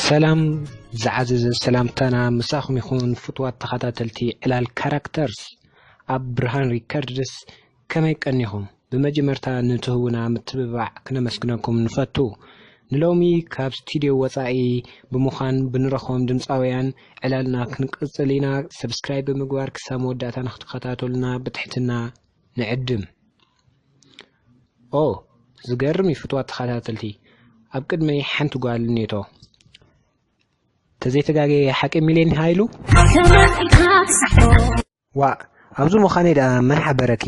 ሰላም ዝዓዘዘ ሰላምታና ምሳኹም ይኹን ፍትዋት ተኸታተልቲ ዕላል ካራክተርስ ኣብ ብርሃን ሪከርድስ ከመይ ቀኒኹም ብመጀመርታ ንትህቡና ምትብባዕ ክነመስግነኩም ንፈቱ ንሎሚ ካብ ስቱድዮ ወፃኢ ብምዃን ብንረኽቦም ድምፃውያን ዕላልና ክንቅፅል ኢና። ሰብስክራይብ ብምግባር ክሳብ መወዳእታ ንክትከታተሉና ብትሕትና ንዕድም። ኦ ዝገርም እዩ ፍትዋት ተኸታተልቲ ኣብ ቅድመይ ሓንቲ ጓል ኔቶ ተዘይተጋገየ ሓቂ ሚልዮን ሃይሉ ዋእ ኣብዚ ምዃነይ ደኣ መን ሓበረኪ?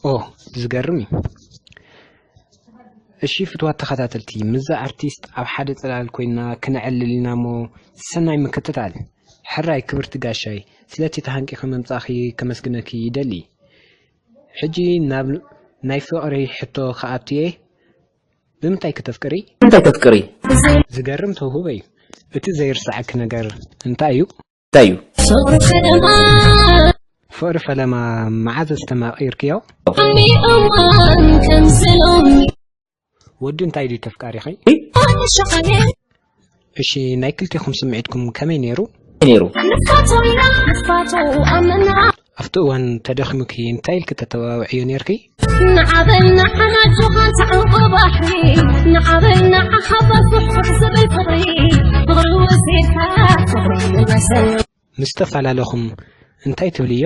ኦ ዝገርም እዩ እሺ ፍትዋት ተኸታተልቲ ምዛ ኣርቲስት ኣብ ሓደ ጽላል ኮይና ክነዕልል ኢና እሞ ሰናይ ምክትታል ሕራይ ክብርቲ ጋሻይ ስለቲ ተሃንቂኺ ምምጻኺ ከመስግነኪ ይደሊ ሕጂ ናብ ናይ ፍቕሪ ሕቶ ክኣቱ እየ ብምንታይ ክተፍቅሪ? ብምንታይ ተፍቅሪ? ዝገርም ተውህቦ እዩ እቲ ዘይርሳዓኪ ነገር እንታይ እዩ? እንታይ እዩ? ፍቅሪ ፈለማ። ፍቅሪ ፈለማ መዓዝ ኣስተማቂርክዮ? ዓሚ እዋን ከምዚ ሎሚ። ወዲ እንታይ ድዩ ተፍቃሪኺ? ኣነ ሸቃሊት። እሺ ናይ ክልቴኹም ስምዒትኩም ከመይ ነይሩ? ነይሩ። ኣብቲ እዋን ተደኺሙኪ እንታይ ኢልኪ ተተባብዕዮ ነይርኪ? ንዓበይ ንዓና ጆኻን ተዓንቆ ባሕሪ ንዓበይ ንዓ ሓባር ፍሕፍሕ ዝብል ፍቕሪ ፍቕሪ ወሲድካ ፍቕሪ መሰል ምስ ተፈላለኹም እንታይ ትብልዮ?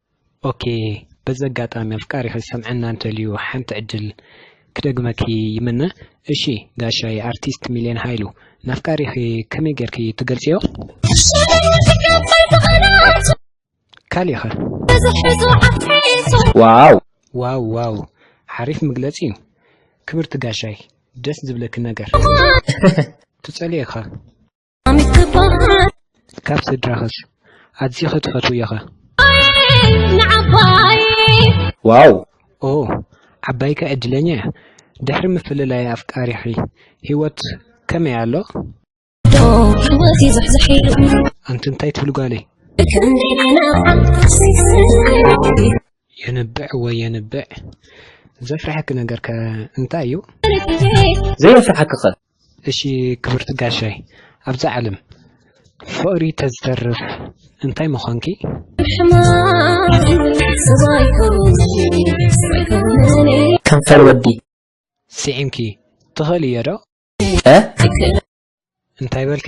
ኦኬ በዚ ኣጋጣሚ ኣፍቃሪኺ ዝሰምዐና እንተልዩ ሓንቲ ዕድል ክደግመኪ ይምነ እሺ ጋሻይ ኣርቲስት ሚልዮን ሃይሉ ናፍቃሪኺ ከመይ ጌርኪ ትገልጽዮ ካሊኸ ዋው ዋው ዋው ሓሪፍ ምግለጽ እዩ ክብርቲ ጋሻይ ደስ ዝብለኪ ነገር ትጸልየኻ ካብ ስድራኸስ ኣዚኺ ትፈትውዮኸ? ዋው! ኦ ዓባይከ ዕድለኛ እያ! ድሕሪ ምፍልላይ ኣፍቃሪኺ ህይወት ከመይ ኣሎ? ኣንቲ እንታይ ትብሊ ጓለይ? የንብዕ ወይ የንብዕ ዘፍርሐኪ ነገርከ እንታይ እዩ? ዘየፍርሐኪኸ? እሺ ክብርቲ ጋሻይ ኣብዛ ዓለም ፍቅሪ ተዝተርፍ እንታይ ምኮንኪ። ከንፈር ወዲ ስዒምኪ ትኽእልዮ ዶ? እንታይ በልኪ?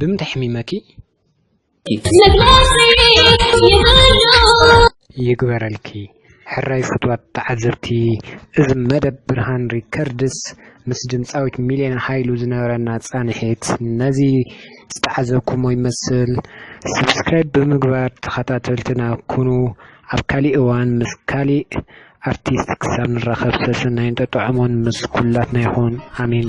ብምንታይ ሕሚመኪ ይግበረልኪ ሕራይ ፍትዋት ተዓዘብቲ እዚ መደብ ብርሃን ሪከርድስ ምስ ድምፃዊት ሚልዮን ሃይሉ ዝነበረና ፃንሒት ነዚ ዝተዓዘብኩሞ ይመስል ሰብስክራይብ ብምግባር ተኸታተልትና ኩኑ ኣብ ካሊእ እዋን ምስ ካሊእ ኣርቲስት ክሳብ ንራኸብ ሰሰናይን ጠጥዖሞን ምስ ኩላትና ይኹን ኣሜን